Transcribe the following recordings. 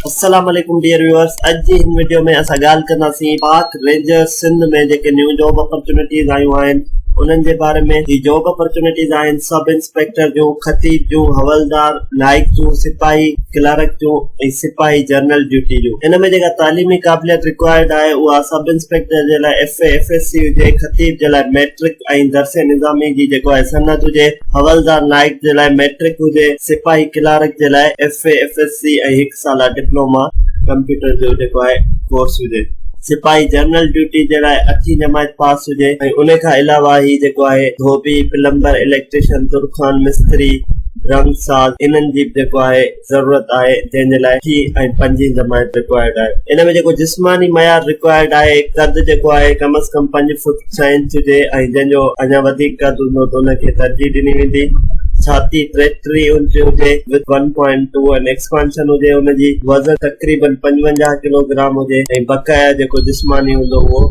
السلام عليڪم dear viewers اڄ جي هن وڊيو ۾ اسان ڳالهه ڪنداسين پاڪ رينجرز سنڌ ۾ جيڪي نيون جاب اپرچونٽيز آيون آهن انهن جي باري ۾ هي جاب اپرچونٽيز آهن سب انسپيڪٽر جون خطيب جون حولدار نائڪ جون سپاهي ڪلارڪ جون ۽ سپاهي جرنل ڊيوٽي جون ان ۾ جيڪا تعليمي قابليت رڪوائرڊ آهي اها سب انسپيڪٽر جي لاء F A F S C هجي خطيب جي لاء ميٽرڪ ۽ درس نظامي جي جيڪو آهي سند هجي، حوالدار نائڪ جي لاء مئٽرڪ هجي، سپاهي ڪلارڪ جي لاء F A, F S C ۽ هڪ سالا ڊپلوما ڪمپيوٽر جو جيڪو آهي ڪورس هجي، سپاهي جنرل ڊيوٽي جي لاء اٺين جماعت پاس هجي ۽ ان کان علاوه هي جيڪو آهي ڌوٻي، پلمبر، اليڪٽريشن، ترخان، مستري، رنگ ساز انهن جي به جيڪو آهي. ضرورت آهي جنهن جي لاء ٽي ۽ پنجين جماعت رڪوائرڊ آهي ان ۾ جيڪو جسماني معيار رڪوائرڊ آهي قد جيڪو آهي ڪم از ڪم پنج فوٽ ڇهه انچ هجي ۽ جنهن جو اڃا وڌيڪ قد هوندو ته ان کي ترجيح ڏني ويندي ڇاتي ٽيٽيهه انچ هجي with one point two and expansion هجي ان جي وزن تقريبن پنجونجاهه ڪلو گرام هجي ۽ بقايا جيڪو جسماني هوندو اهو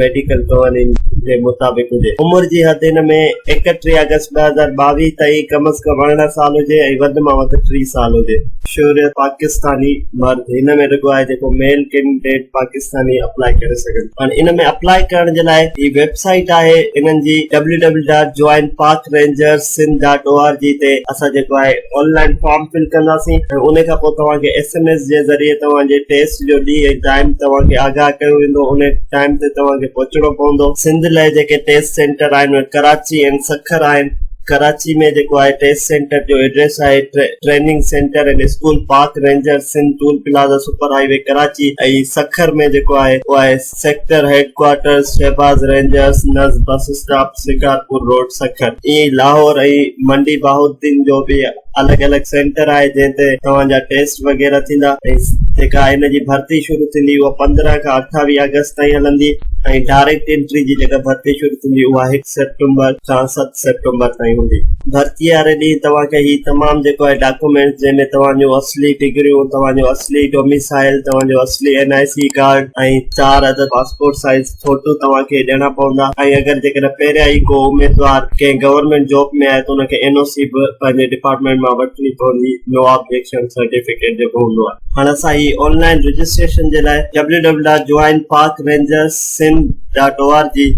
ميڊيڪل قوانين جي مطابق هجي عمر جي حد ان ۾ ايڪٽيهه آگسٽ ٻه هزار ٻاويهه تائين ڪم از ڪم ارڙهن سال هجي ۽ وڌ مان وڌ ٽي سال هجي شهري پاڪستاني مرد هن ۾ رڳو آهي جيڪو ميل ڪينڊيڊيٽ پاڪستاني اپلاء ڪري سگهن ٿا هاڻي ان ۾ اپلاء ڪرڻ جي لاء هي ويب سائيٽ آهي انهن جي www.joinparkrangers.sindh.org تي اسان جيڪو آهي آن لائين فارم فل ڪنداسين ۽ ان کان پوء توهان کي ايس ايم ايس جي ذريعي توهان جي ٽيسٽ جو ڏينهن ۽ ٽائيم توهان کي آگاهه ڪيو ويندو انهي ٽائيم تي توهان کي پهچڻو پوندو سنڌ لئه جيڪي ٽيسٽ سينٽر آهن اهي ڪراچي ۽ سکر آهن ڪراچي ۾ جيڪو آهي ٽيسٽ سينٽر جو ايڊريس آهي training centre and school park ranger Sindh toll plaza super highway Karachi ۽ Sukkur ۾ جيڪو آهي اهو آهي sector headquarters Shahbaz rangers نز bus stop Shikarpur road Sukkur اي لاهور ۽ منڊي بهاؤالدين جو به الڳ الڳ سينٽر آهي جنهن تي توهان جا ٽيسٽ وغيره ٿيندا ۽ جيڪا هن جي ڀرتي شروع ٿيندي اها پندرهن کان اٺاويهه آگسٽ تائين هلندي ۽ ڊائريڪٽ انٽري جي جيڪا ڀرتي شروع ٿيندي اها هڪ سيپٽمبر کان سيپٽمبر تائين هوندي. ڀرتي واري ڏينهن توهان کي هي تمام جيڪو آهي ڊاڪومينٽس جنهن ۾ توهان جون اصلي ڊگريون، توهان جو اصلي ڊوميسائل، توهان جو اصلي اين آء سي ڪارڊ ۽ چار عدد پاسپورٽ سائيز فوٽو توهان کي ڏيڻا پوندا ۽ اگر جيڪڏهن پهريان ئي ڪو اميدوار ڪنهن گورنمينٽ جاب ۾ آهي ته ان کي اين او سي به پنهنجي ڊپارٽمينٽ مان وٺڻي پوندي نو آبجيڪشن سرٽيفڪيٽ جيڪو هوندو آهي. هاڻ اسان هي آن لائين رجسٽريشن جي لاء www.joinparkrangers.sindh dot O R G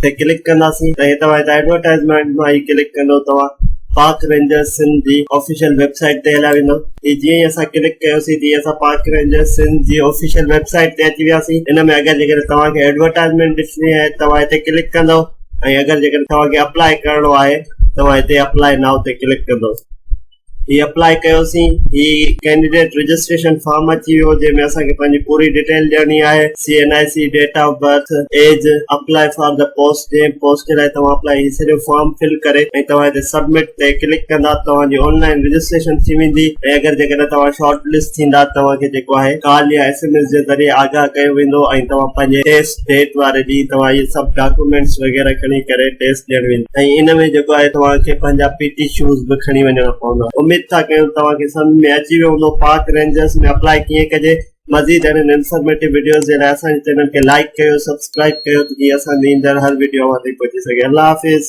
تي ڪلڪ ڪنداسين ته هي توهان هت ايڊورٽائيزمينٽ مان هي ڪلڪ ڪندو توهان پارڪ رينجرز سنڌ جي آفيشل ويب سائيٽ تي هليا ويندو هي جيئن ئي اسان ڪلڪ ڪيوسين تيئن اسان پارڪ رينجرز سنڌ جي آفيشل ويب سائيٽ تي اچي وياسين ان ۾ اگر جيڪڏهن توهان کي ايڊورٽائيزمينٽ ڏسڻي آهي توهان هتي ڪلڪ ڪندو ۽ اگر جيڪڏهن توهان کي اپلائي ڪرڻو آهي توهان هتي اپلائي نائو تي ڪلڪ ڪندو هي اپلائي ڪيوسين هي ڪينڊيڊيٽ رجسٽريشن فارم اچي ويو جنهن ۾ اسان کي پنهنجي پوري ڊيٽيل ڏيڻي آهي C N I C date of birth age apply for the post جنهن پوسٽ جي لاء توهان اپلائي هي سڄو فارم فل ڪري ۽ توهان هتي سبمٽ تي ڪلڪ ڪندا توهان جي آن لائين رجسٽريشن ٿي ويندي ۽ اگر جيڪڏهن توهان شارٽ لسٽ ٿيندا توهان کي جيڪو آهي ڪال يا ايس ايم ايس جي ذريعي آگاهه ڪيو ويندو ۽ توهان پنهنجي ٽيسٽ ٽيٽ واري ڏينهن توهان اهي سڀ ڊاڪيومينٽس وغيره کڻي ڪري ٽيسٽ ڏيڻ ويندا ۽ ان ۾ جيڪو آهي توهان کي پنهنجا پي ٽي شوز به کڻي وڃڻا پوندا اميد ٿا ڪيون توهان کي سمجهه ۾ اچي ويو هوندو پارڪ رينجرز ۾ اپلائي ڪيئن ڪجي مزيد اهڙين انفارميٽو وڊيوز جي لاء اسان جي چينل کي لائيڪ ڪيو سبسڪرائيب ڪيو ته جيئن اسان جي ايندڙ هر وڊيو اوهان تائين پهچي سگهي الله حافظ